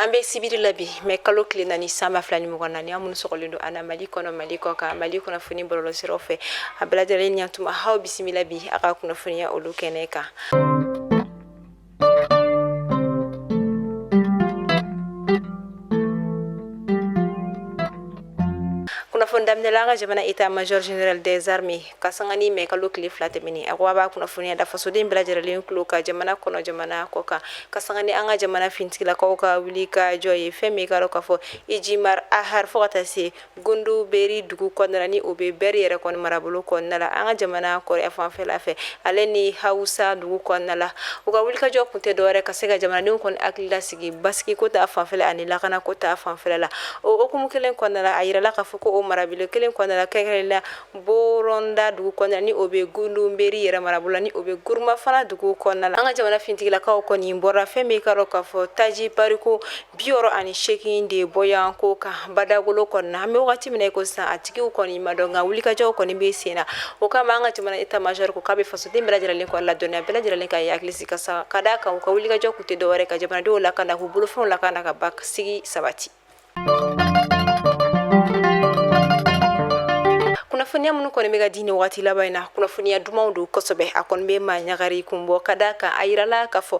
an bɛ sibiri la bi mɛ kalo tile naani san ba fila ni mugan naani aw minnu sɔgɔlen don an na mali kɔnɔ mali kɔ kan mali kunnafoni bɔlɔlɔ siraw fɛ a bɛɛ lajɛlen ɲatuma aw bisimila bi a ka kunnafoniya olu kɛnɛ kan kunnafoni daminɛla an ka jamana état major général des armées ka sanga ni mɛ kalo tile fila tɛmɛnen a ko a b'a kunnafoniya da fasoden bɛɛ lajɛrɛlen kulo kan jamana kɔnɔ jamana kɔ kan ka sanga ni an ka jamana finitigilakaw ka wulikajɔ ye fɛn min i k'a dɔn k'a fɔ ijimar ahar fo ka taa se Gundu beri dugu kɔnɔna ni o bɛ bɛri yɛrɛ kɔni marabolo kɔnɔna la an ka jamana kɔrɔnyanfanfɛla fɛ ale ni hausa dugu kɔnɔna la u ka wulikajɔ kun tɛ dɔwɛrɛ ka se ka jamanadenw kɔni hakili lasigi basigi ko ta fanfɛla ani lakana ko ta fanfɛla la o kumu kelen kɔnɔna la a jirala k'a fɔ ko o marabolo kelen kɔnɔna kɛrɛn la boronda dugu kɔnɔna ni o bɛ gundu beri yɛrɛ marabolo la ni o bɛ gurma fana dugu kɔnɔna la an ka jamana finitigilakaw kɔni bɔra fɛn min i k'a dɔn k'a fɔ taji bariko Bi wɔɔrɔ ani seegin de bɔ yan ko kan badagolo kɔnɔ an bɛ waati min na i ko san a tigiw kɔni ma dɔn nka wulikajɔw kɔni bɛ sen na o kama an ka jamana état major ko k'a bɛ fasoden bɛɛ lajɛlen kɔni ladɔnniya bɛɛ lajɛlen ka i hakili sigi ka sa ka d'a kan u ka wulikajɔ kun tɛ dɔwɛrɛ ka jamanadenw lakana k'u bolofɛnw lakana ka basigi sabati kunnafoniya minnu kɔni bɛ ka di ni waati laban in na kunnafoniya dumanw don kosɛbɛ a kɔni bɛ maa ɲagari kun bɔ ka d'a kan a jirala k'a fɔ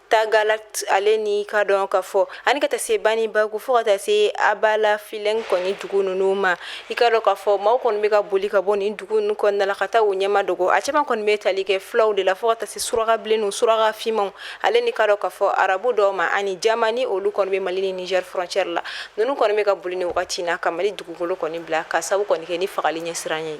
Tagalat ale ni i k'a dɔn k'a fɔ ani ka taa se banibangu fo ka taa se abala filingue kɔni dugu ninnu ma i k'a dɔn k'a fɔ maaw kɔni bɛ ka boli ka bɔ nin dugu ninnu kɔnɔna na ka taa u ɲɛma dogo a caman kɔni bɛ tali kɛ fulaw de la fo ka taa se suraka bilen ninnu suraka finmanw ale ni i k'a dɔn k'a fɔ arabu dɔw ma ani jama ni olu kɔni bɛ mali ni Niger frontière la ninnu kɔni bɛ ka boli ni wagati na ka mali dugukolo kɔni bila k'a sababu kɔni kɛ ni fagali ɲɛsiran ye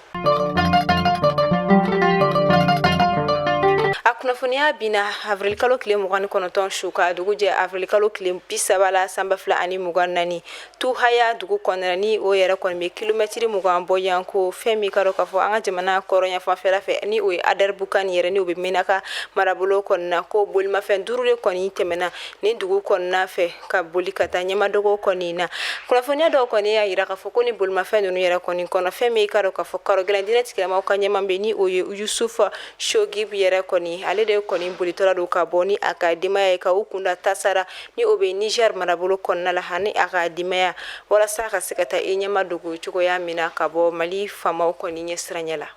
a kunnafoniya binna awirilikalo tile mugan ni kɔnɔntɔn su ka dugu jɛ awirilikalo tile bi saba la san ba fila ani mugan naani tu haya dugu kɔnɔna ni o yɛrɛ kɔni bɛ kilomɛtiri mugan bɔ yan ko fɛn min i k'a dɔn k'a fɔ an ka jamana kɔrɔnyanfanfɛla fɛ ni o ye adaribukan yɛrɛ ni o bɛ menaka marabolo kɔnɔna ko bolimafɛn duuru de kɔni tɛmɛna ni dugu kɔnɔna fɛ ka boli ka taa ɲɛma dogo kɔni na kunnafoniya dɔw kɔni y'a jira k'a fɔ ko ni bolimafɛn ninnu yɛrɛ kɔni kɔnɔ fɛn min i k'a dɔn k'a fɔ karogɛlɛn diinɛtigilamaw ka ɲɛmaa bɛ ni o ye yusufu shogib yɛrɛ kɔni ale de kɔni bolitɔla don ka bɔ ni a ka denbaya ye ka u kunda tasara ni o bɛ Niger marabolo kɔnɔna la ani a ka denbaya walasa ka se ka taa i ɲɛma dogo cogoya min na ka bɔ mali famaw kɔni ɲɛsiranɲɛ la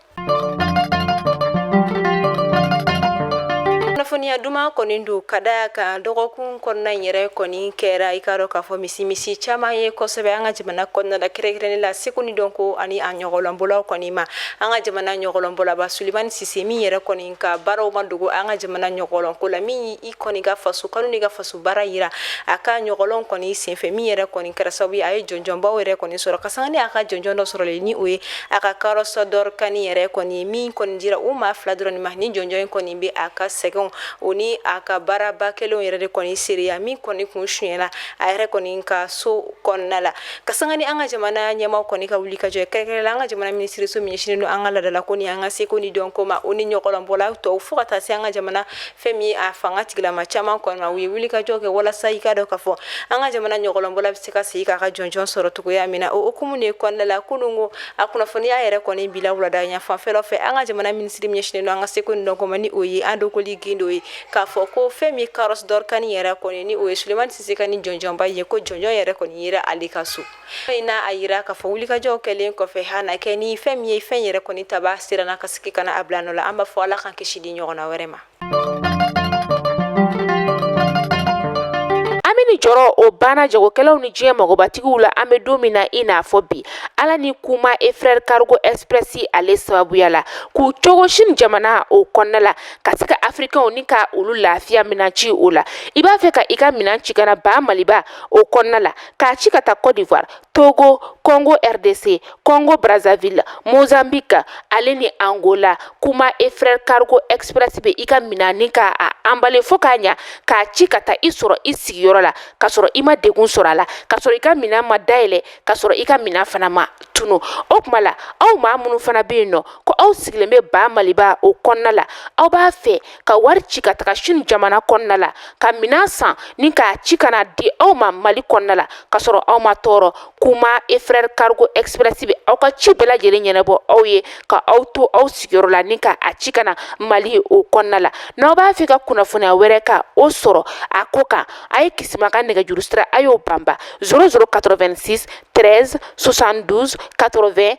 kunnafoniya duman kɔni don ka d'a kan dɔgɔkun kɔnɔna in yɛrɛ kɔni kɛra i k'a dɔn k'a fɔ misi misi caman ye kosɛbɛ an ka jamana kɔnɔna la kɛrɛnkɛrɛnnen la seko ni dɔnko ani a ɲɔgɔlɔnbɔlaw kɔni ma an ka jamana ɲɔgɔlɔnbɔlaba sulemani sise min yɛrɛ kɔni ka baaraw ma dogo an ka jamana ɲɔgɔlɔnko la min kɔni ka faso kanu ni ka faso baara yira a ka ɲɔgɔlɔn kɔni senfɛ min yɛrɛ kɔni kɛra sababu a ye jɔnjɔnbaw yɛrɛ kɔni sɔrɔ ka sanga ni a ka jɔnjɔn dɔ sɔrɔlen ni o ye a ka Carrosse d'Or Cannes yɛrɛ kɔni min kɔni dira o maa fila dɔrɔn ma ni jɔnjɔn in kɔni bɛ a ka sɛgɛnw o ni a ka baaraba kɛlenw yɛrɛ de kɔni seereya min kɔni kun sonyɛla a yɛrɛ kɔni ka so kɔnɔna la ka sanga ni an ka jamana ɲɛmaaw kɔni ka wuli ka jɔ kɛrɛnkɛrɛn la an ka jamana minisiriso min ɲɛsinnen don an ka laadalako ni an ka seko ni dɔnko ma o ni ɲɔgɔlɔnbɔla tɔw fo ka taa se an ka jamana fɛn min ye a fangatigilama caman kɔni ma u ye wuli ka jɔ kɛ walasa i k'a dɔn k'a fɔ an ka jamana ɲɔgɔlɔnbɔla bɛ se ka segin k'a ka jɔnjɔn sɔrɔ cogoya min na o hukumu de kɔnɔna la kunun ko a kunnafoniya yɛrɛ kɔni bila wulada yan fanfɛlaw fɛ an ka jamana minisiri min ɲɛsinnen don an ka seko ni dɔnko ma ni o ye Andogoly Guindo ye k'a fɔ ko fɛn min ye Carrosse d'Or Cannes yɛrɛ kɔni ni o ye sulemani sise ka nin jɔnjɔnba ye ko jɔnjɔn yɛrɛ kɔni yera ale ka so Fɛn in n'a a jira k'a fɔ wulikajɔw kɛlen kɔfɛ han na kɛ ni fɛn min ye fɛn yɛrɛ kɔni tabaa siranna ka segin ka na a bila nɔ la an b'a fɔ Ala k'an kisi nin ɲɔgɔnna wɛrɛ ma. Hami ni jɔrɔ o banna jagokɛlaw ni diɲɛ magobatigiw la an bɛ don min na i n'a fɔ bi Ala ni kuma et frères cargo express ale sababuya la k'u cogo Chine jamana o kɔnɔna la ka se ka afirikaw ni ka olu lafiya minɛn ci o la i b'a fɛ ka i ka minɛn ci ka na baa Maliba o kɔnɔna la k'a ci ka taa Cote d'Ivoire, Togo, Congo RDC, Congo Brazzaville, Mozambique ale ni Angola kuma et frère cargo express bɛ i ka minɛn ni k'a anbale fo k'a ɲa k'a ci ka taa i sɔrɔ i sigiyɔrɔ la ka sɔrɔ i ma degun sɔrɔ a la ka sɔrɔ i ka minɛn ma dayɛlɛ ka sɔrɔ i ka minɛn fana ma tunun o kuma la aw maa minnu fana bɛ yen nɔ ko aw sigilen bɛ ba maliba o kɔnɔna la aw b'a fɛ ka wari ci ka taga sini jamana kɔnɔna la ka minan san ni k'a ci ka na di aw ma mali kɔnɔna la ka sɔrɔ aw ma tɔɔrɔ kuma et frère cargo express bɛ aw ka ci bɛɛ lajɛlen ɲɛnabɔ aw ye ka aw to aw sigiyɔrɔ la ni ka a ci ka na mali o kɔnɔna la n'aw b'a fɛ ka kunnafoniya wɛrɛ ka o sɔrɔ a ko kan a ye kisima ka nɛgɛjuru sira a y'o banba 0086 13 72 80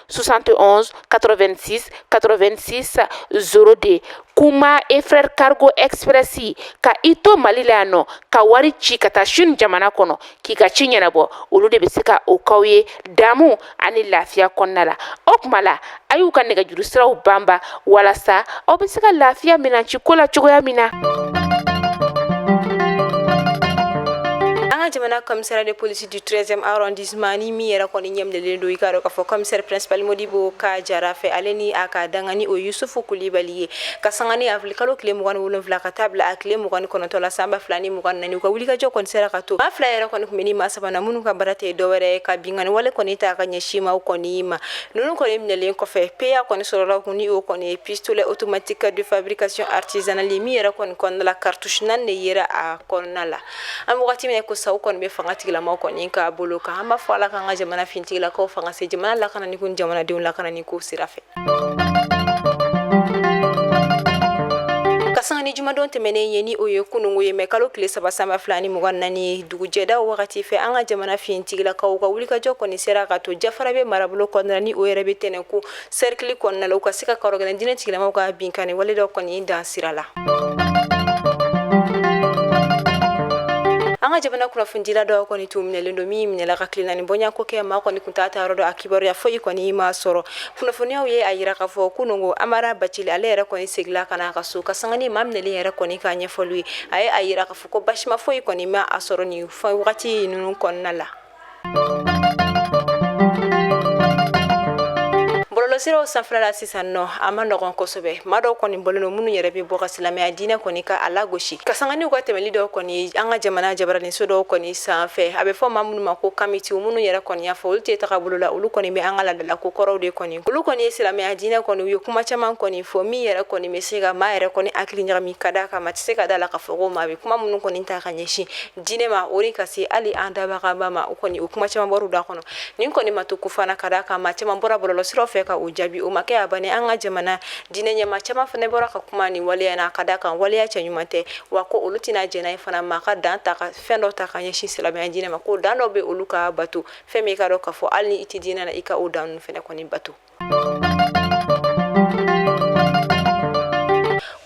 71 86 86 02 kuma et frère cargo express ka i to mali la yan nɔ ka wari ci ka taa sini jamana kɔnɔ k'i ka ci ɲɛnabɔ olu de bɛ se ka o k'aw ye damu ani lafiya kɔnɔna la o kuma la a y'u ka nɛgɛjuru siraw banba walasa aw bɛ se ka lafiya minɛn ci ko la cogoya min na an ka jamana commissaire de police du 1 zeme Zmani min yɛrɛ kɔni ɲɛminɛlen don i k'a dɔn k'a fɔ commissaire principal Modibo Ka Jara fɛ ale ni a ka dankan ni o Yusufu Kulibali ye ka sanga ni avril kalo tile mugan ni wolonwula ka taa bila a tile mugan ni kɔnɔntɔn la sanba fila ni mugan naani u ka wulikajɔ kɔni sera ka to maa fila yɛrɛ kɔni kunbɛn ni maa sabanan minnu ka baara tɛ dɔwɛrɛ ye ka binkanniwale kɔni ta ka ɲɛsin maaw kɔni ma ninnu kɔni minɛlen kɔfɛ PA kɔni sɔrɔla u kun ni o kɔni ye pistolet automatique de fabrication artisanale min yɛrɛ kɔni kɔnɔna la cartouche naani de yera a kɔnɔna la an bɛ wagati min na ko sa kɔni bɛ fangatigilamaw kɔni ka bolo kan an b'a fɔ ala k'an ka jamana finitigilakaw fanga se jamana lakanani ko jamanadenw lakanani ko sira fɛ ka sanga ni jumadon tɛmɛnen ye ni o ye kunungo ye mɛ kalo tile saba sanba fila ni mugan naani dugujɛda wagati fɛ an ka jamana finitigilakaw ka wulikajɔ kɔni sera ka to Jafarabɛ marabolo kɔnɔna ni o yɛrɛ bɛ Tɛnɛnku Serikili kɔnɔna la u ka se ka kɔrɔgɛlɛn diinɛtigilamaw ka binkanni wale dɔ kɔni dan sira la an ka jamana kunnafonidila dɔ kɔni tun minɛlen don min minɛla ka tile naani bɔɲɔgɔnko kɛ maa kɔni tun t'a taayɔrɔ dɔn a kibaruya foyi kɔni ma sɔrɔ kunnafoniyaw ye a jira k'a fɔ kunungo Amara Bacili ale yɛrɛ kɔni segila ka na a ka so ka sanga ni maa minɛlen yɛrɛ kɔni ka ɲɛfɔli ye a ye a jira k'a fɔ ko baasima foyi kɔni ma a sɔrɔ nin wagati ninnu kɔnɔna la bɔlɔlɔsiraw sanfɛla la sisan nɔ a ma nɔgɔn kosɛbɛ maa dɔw kɔni bɔlen don minnu yɛrɛ bɛ bɔ ka silamɛya diinɛ kɔni ka a lagosi ka sanga ni u ka tɛmɛli dɔw kɔni an ka jamana jabaraninso dɔw kɔni sanfɛ a bɛ fɔ maa minnu ma ko kamitiw minnu yɛrɛ kɔni y'a fɔ olu tɛ tagabolo la olu kɔni bɛ an ka laadalako kɔrɔw de kɔni olu kɔni ye silamɛya diinɛ kɔni u ye kuma caman kɔni fɔ min yɛrɛ kɔni bɛ se ka maa yɛrɛ kɔni hakili ɲagami ka d'a kan maa tɛ se ka da a la k'a fɔ ko maa bɛ kuma minnu kɔni ta ka ɲɛsin diinɛ ma o ni ka se hali an dabagaba ma o kɔni o kuma caman bɔr'u da kɔnɔ nin kɔni ma to ko fana ka d'a kan maa caman bɔra bɔlɔlɔ siraw fɛ ka o jaabi o ma kɛ a bani an ka jamana diinɛ ɲɛmaa caman fana bɔra ka kuma nin waleya na ka d'a kan waleya cɛɲuman tɛ wa ko olu tɛna jɛn n'a ye fana maa ka dan ta ka fɛn dɔ ta ka ɲɛsin silamɛya diinɛ ma ko dan dɔ bɛ olu ka bato fɛn min i k'a dɔn k'a fɔ hali ni i tɛ diinɛ na i ka o dan ninnu fana kɔni bato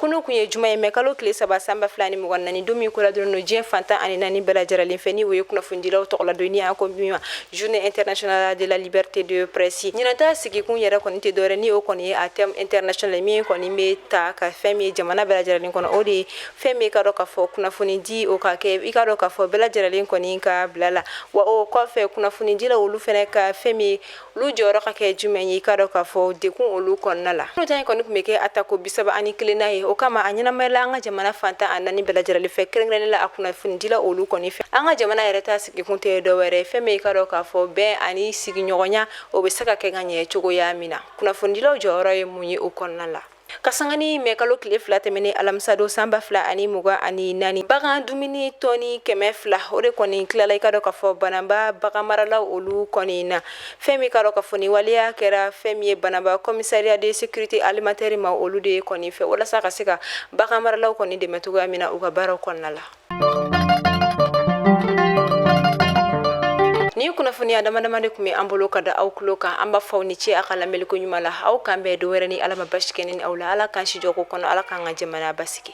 kunun kun ye juma ye mɛ kalo tile saba sanba fila ni mugan naani don min kola dɔrɔn no diɲɛ fan tan ani naani bɛɛ lajɛrɛlen fɛ ni o ye kunnafonidilaw tɔgɔladon ni an ko min ma journée internationale de la liberté de presse ɲinata sigikun yɛrɛ kɔni tɛ dɔwɛrɛ ni o kɔni ye a thème international min kɔni bɛ ta ka fɛn min ye jamana bɛɛ lajɛrɛlen kɔnɔ o de ye fɛn min i k'a dɔn k'a fɔ kunnafoni di o ka kɛ i k'a dɔn k'a fɔ bɛɛ lajɛrɛlen kɔni ka bila la wa o kɔfɛ kunnafonidilaw olu fana ka fɛn min olu jɔyɔrɔ ka kɛ jumɛn ye i k'a dɔn k'a fɔ dakun olu kɔnɔna la n'o ta in kɔni tun bɛ kɛ a tako bisaba ani kelenna ye o kama a ɲɛnamayala an ka jamana fan tan ani naani bɛɛ lajɛlen fɛ kɛrɛnkɛrɛnnenya la a kunnafonidila olu kɔni fɛ an ka jamana yɛrɛ ta sigikun tɛ dɔwɛrɛ fɛn bɛ i k'a dɔn k'a fɔ bɛn ani sigiɲɔgɔnya o bɛ se ka kɛ ka ɲɛ cogoya min na kunnafonidilaw jɔyɔrɔ ye mun ye o kɔnɔna la Ka sanga ni mɛ kalo tile fila tɛmɛnen alamisadon sanba fila ani mugan ani naani bagan dumuni tɔni kɛmɛ fila o de kɔni tilala i k'a dɔn k'a fɔ banamba bagan maralaw olu kɔni na fɛn min k'a dɔn k'a fɔ nin waleya kɛra fɛn min ye banamba commissariat de sécurité alimentaire ma olu de kɔni fɛ walasa ka se ka bagan maralaw kɔni dɛmɛ cogoya min na u ka baaraw kɔnɔna la nin kunnafoniya dama dama de tun bɛ an bolo ka da aw tulo kan an b'a fɔ aw ni ce a ka lamɛnliko ɲuman la aw k'an bɛn don wɛrɛ ni ala ma baasi kɛ ne ni aw la ala k'an sijɔko kɔnɔ ala k'an ka jamana basigi